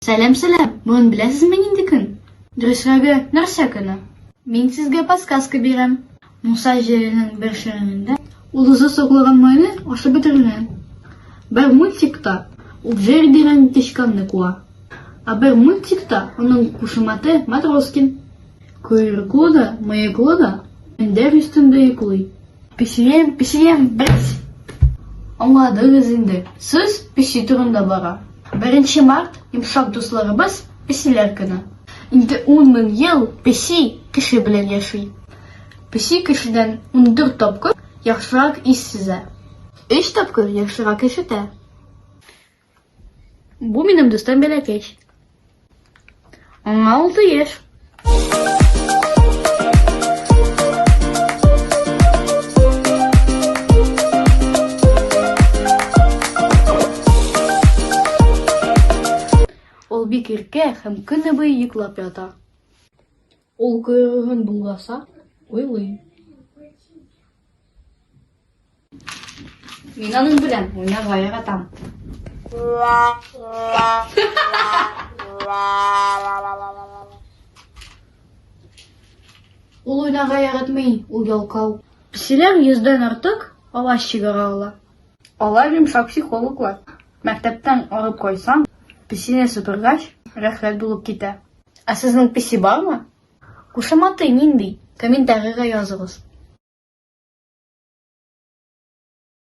Сәлам, сәлам. Бүген беләсезме нинди көн? Дөресрәге, нәрсә көне? Мин сезгә подсказка бирәм. Муса җиренең бер шәрәңендә ул үзе соклыган майны ашап бетерелгән. Бер мультикта ул җир дигән тычканны куа. Ә бер мультикта аның кушаматы Матроскин. Койрыгы да, мыеклы да, мендәр өстендә йоклый. Песием, песием, бәс! Аңладыгыз инде, сүз песи турында бара. Беренче март, йомшак дусларыбыз, песиләр көне. Инде ун мең ел песи кеше белән яши. Песи кешедән ундүрт тапкыр яхшырак ис сизә. Өч тапкыр яхшырак ишетә. Бу минем дустым Бәләкәч. Аңа алты яшь. Ул бик иркә һәм көне буе йоклап ята. Ул койрыгын болгаса, уйлый. Мин аның белән уйнарга яратам. Ул уйнарга яратмый, ул ялкау. Песиләр йөздән артык алаш чигара ала. Алар йомшак психологлар. Мәктәптән арып кайсаң, песине сыпыргач, рәхәт булып китә. Ә сезнең песи бармы? Кушаматы нинди? Комментарийга языгыз.